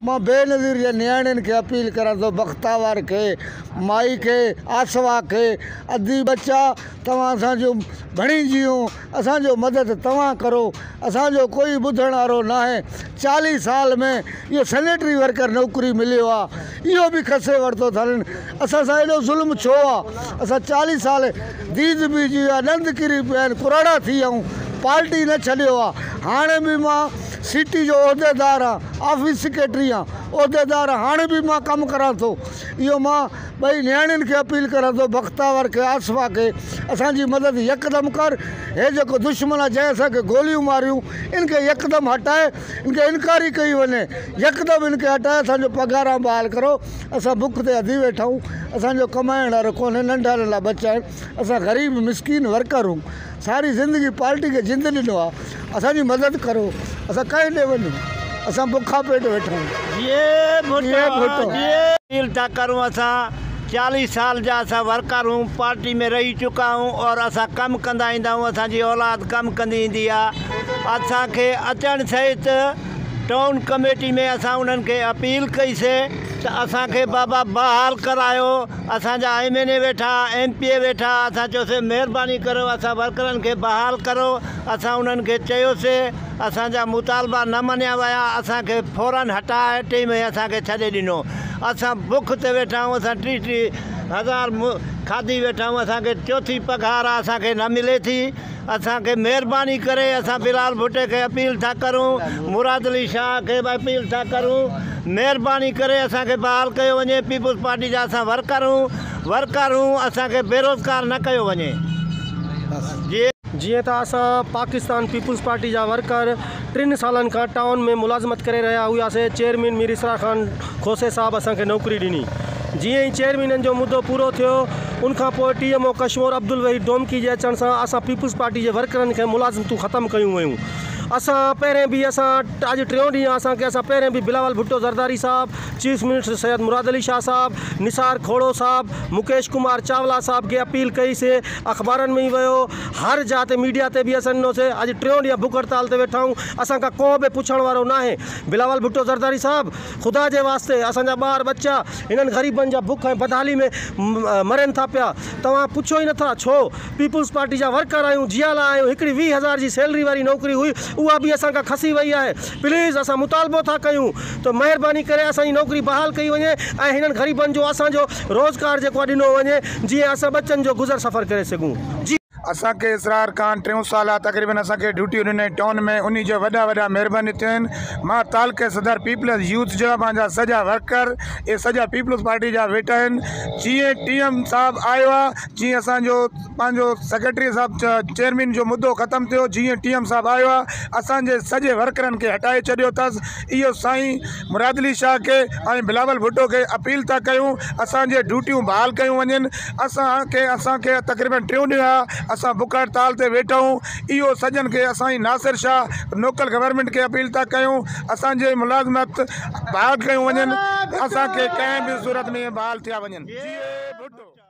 مان بينظير جي نياڻين کي اپيل ڪران ٿو بختاور کي، مائي کي، آسوا کي، ادي ٻچا توهان اسان جون ڀڻي جيون اسان جو مدد توهان ڪرو اسان جو ڪوئي ٻڌڻ وارو ناهي چاليهه سال ۾ اهو سينيٽري ورڪر نوڪري مليو آ اهو به کسي ورتو اٿن اسان سان ايڏو ظلم ڇو آ اسان چاليهه سال ديد بيجي ويا ڏند ڪري پيا آهن ڪراڙا ٿي ويا آهيون پارٽي نه ڇڏيو آ هاڻي به مان سي ٽي جو عهديدار هان، آفيس سيڪريٽري هان عهديدار هاڻ به مان ڪم ڪران ٿو اهو مان ٻئي نياڻين کي اپيل ڪران ٿو بختاور کي آصفا کي اسان جي مدد يڪدم ڪر هي جيڪو دشمن آ جنهن اسان کي گوليون ماريون ان کي يڪدم هٽاء ان کي انڪاري ڪئي وڃي يڪدم ان کي هٽاء اسان جو پگهاران بحال ڪرو اسان بک تي اڌي ويٺا آهيون اسان جو ڪمائڻ وارو ڪونهي ننڍاڻين لا ٻچا آهن اسان غريب مسڪين ورڪر آھيون ساري زندگي پارٽي کي جند ڏنو آ اسان جي مدد ڪرو اسان ڪنهن ڏي وڃون اسان بکا پيٽ ويٺا آھيون جيئي ڀٽو. اپيل ٿا ڪرون اسان چاليھ سال جا اسان ورڪر ھون پارٽي ۾ رھي چڪا ھون اور اسان ڪم ڪندا ايندا ھون اسان جي اولاد ڪم ڪندي ايندي آ اسان کي اچڻ سھيت ٽائون ڪميٽي ۾ اسان انھن کي اپيل ڪئي سي ته اسان کي بابا بحال ڪرايو اسان جا ايم اين اي ويٺا، ايم پي اي ويٺا، اسان چيوسين مهرباني ڪريو اسان ورڪرن کي بحال ڪرو، اسان انهن کي چيوسين، اسان جا مطالبا نه مڃيا ويا، اسان کي فورن هٽاء ٽئين مهي اسان کي ڇڏي ڏنو، اسان بک تي ويٺا آهيون، اسان ٽيهه ٽيهه هزار کاڌي ويٺا آهيون، اسان کي چوٿين پگهار اسان کي نه ملي ٿي. اسان کي مهرباني ڪري اسان بلال ڀٽي کي اپيل ٿا ڪرون مراد علي شاهه کي به اپيل ٿا ڪرون مهرباني ڪري اسان کي بحال ڪيو وڃي پيپلز پارٽي جا اسان ورڪرون ورڪرون اسان کي بيروزگار نه ڪيو وڃي جي جيئن ته اسان پاڪستان پيپلز پارٽي جا ورڪر ٽن سالن کان ٽائون ۾ ملازمت ڪري رهيا هئاسين چيئرمين مير اسرار خان کوسي صاحب اسان کي نوڪري ڏني. جيئن ئي چئن مهينن جو مدو پورو ٿيو، ان کان پوء T M O Kashmore Abdulwaheed Domki جي اچڻ سان اسان پيپلز پارٽي جي ورڪرن کي ملازمتون ختم ڪيون ويون. اسان پهرين به اسان اڄ ٽيون ڏينهن آ اسان کي اسان پهرين به بلاول ڀٽو زرداري صاحب، چيف منسٽر سيد مراد علي شاهه صاحب، نثار کوڙو صاحب، مڪيش ڪمار چاولا صاحب کي اپيل ڪئي سي، اخبارن ۾ ويو، هر جاء تي ميڊيا تي به اسان ڏنو سي. اڄ ٽيون ڏينهن بک هڙتال تي ويٺا آهيون. اسان کان ڪو به پڇڻ وارو ناهي. بلاول ڀٽو زرداري صاحب خدا جي واسطي اسان جا ٻار ٻچا هنن غريبن جا بک ۽ بدحالي ۾ مرين ٿا پيا توهان پڇو ئي نٿا ڇو پيپلز پارٽي جا ورڪر آهيون جيا لاء آهيون هڪڙي ويهه هزار جي سيلري واري نوڪري هئي اها به اسان کان کسي وئي آهي پليز اسان مطالبو ٿا ڪيون ته مهرباني ڪري اسان جي نوڪري بحال ڪئي وڃي ۽ هنن غريبن جو اسان جو روزگار جيڪو آهي ڏنو وڃي جيئن اسان ٻچن جو گذر سفر ڪري سگهون. اسان کي اسرار کان ٽيون سال آ تقريبن اسان کي ڊيوٽيون ڏنائين ٽائون ۾ انهي جا وڏا وڏا مھرباني ٿيو آھن مان تعلقي صدر پيپلز يوٿ جا مانجا سڄا ورڪر اھي سڄا پيپلز پارٽي جا ويٺا آھن جيئن ٽي ايم صاحب آيو آ جيئن اسان جو پنهنجو سيڪريٽري صاحب چيئرمين جو مدو ختم ٿيو جيئن ٽي ايم صاحب آيو آ اسان جي سڄي ورڪرن کي ھٽائي ڇڏيو تس اهو سائين مراد علي شاهه کي ۽ بلاول ڀٽو کي اپيل ٿا ڪيون اسانجي ڊيوٽيون بحال ڪيون وڃن اسانکي اسانکي تقريبن ٽيون ڏينهن آ اسان بک هڙتال تي ويٺا آهون اهو سڄڻ کي اسائين ناصر شاهه لوڪل گورنمينٽ کي اپيل ٿا ڪيون اسانجي ملازمت بحال ڪيون وڃن اسانکي ڪنهن به صورت ۾ بحال ٿيا وڃن